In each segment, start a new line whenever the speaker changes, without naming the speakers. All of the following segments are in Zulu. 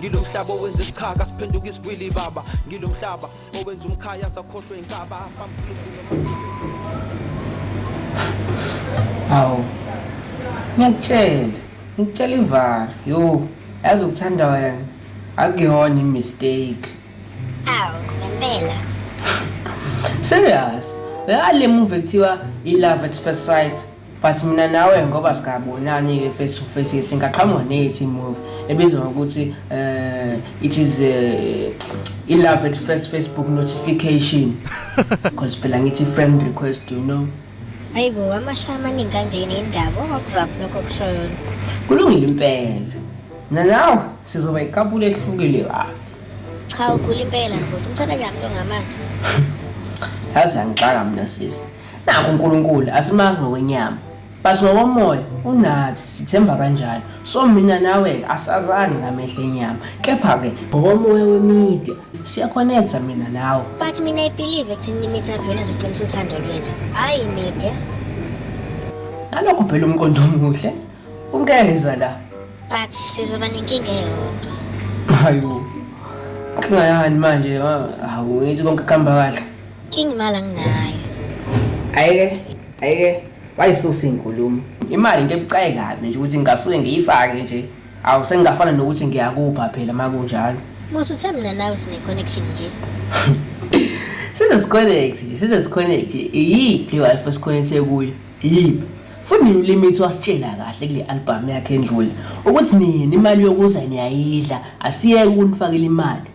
ngilo mhlaba owenza isichaka siphenduka isigwili baba ngilo mhlaba owenza umkhaya sakhohlwe inkaba
awu ngiyakutshela ngikutshela ivara yo yazi ukuthanda wena akuyona imistake awu
ngempela serious
ngale muva ekuthiwa i-love at first sight but mina nawe ngoba singabonani-ke face to face ke singaqhamuka nethi move ebizwa ngokuthi um it is uh, i-love at first facebook notification because phela ngithi friend request you know hayi bo
amahlaya amaningi kanjeni indaba ongakuzaphi lokho kushoyo kulungile
impela mina nawe sizoba iqabula ehlukile kabi ah. cha ugula
impela futhi umthanda njani
lo ngamazi yazi angixaka mina sisi Nakho uNkulunkulu asimazi ngokwenyama but ngokomoya unathi sithemba kanjalo so mina nawe asazani ngamehla enyama kepha-ke ngokomoya wemedia siyaconnecta mina nawe but mina i believe
ekutheni imedia vele izoqinisa uthando lwethu hhayi imedia
nalokho phela umqondo omuhle ungeza la but sizoba
nenkinga eyodwa hayo
inkinga yani manje hawu ngithi konke kuhamba kahle King imali
anginayo. Ayike, ayike.
Wayisusa inkulumo. Imali into ebucayi kabi nje ukuthi ngingasuke ngiyifake nje. Awu sengingafana nokuthi ngiyakupha phela makunjalo. Musa uthe mina
nawe sine connection nje. Size
siconnect nje, size siconnect. Iyiphi wife esikhonethe kuyo? Iyiphi? Futhi uLimit wasitshela kahle kule album yakhe endlule ukuthi nini imali yokuza niyayidla, asiyeke ukunifakela imali.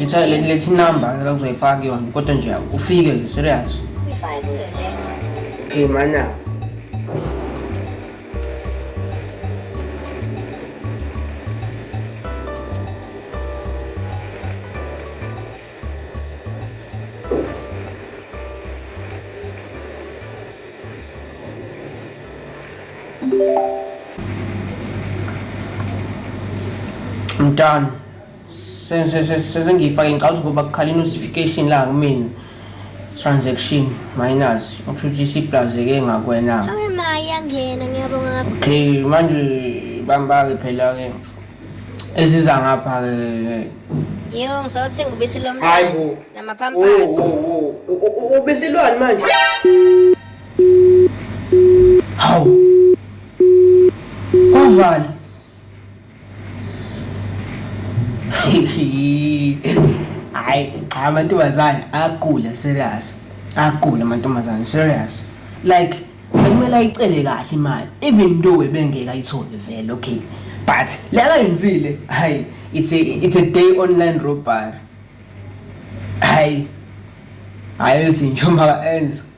Letha le- lethi number la uzoyifaka kuyona kodwa nje ufike nje serious. Uyifake kuyo le.
Hey mana.
I'm done. sesengiyifake ngicabanga ukuthi ngoba kukhala i-notification la kumina transaction minus okusho ukuthi isiplazeke ngakwena
okay manje
bambake phela-ke eziza ngapha-ke Yebo ngisawuthenga
ubisi lomntwana. Hayibo. Namapampers.
Ubisi lwani manje? Hawu. Wavala. hayi amantombazane agula serious agula amantombazane serious like bekumele ayicele kahle imali even though ebengeke ayithole vele okay but le akayenzile hayi it's a, it's a day online robbery hayi hayi ezinje uma enza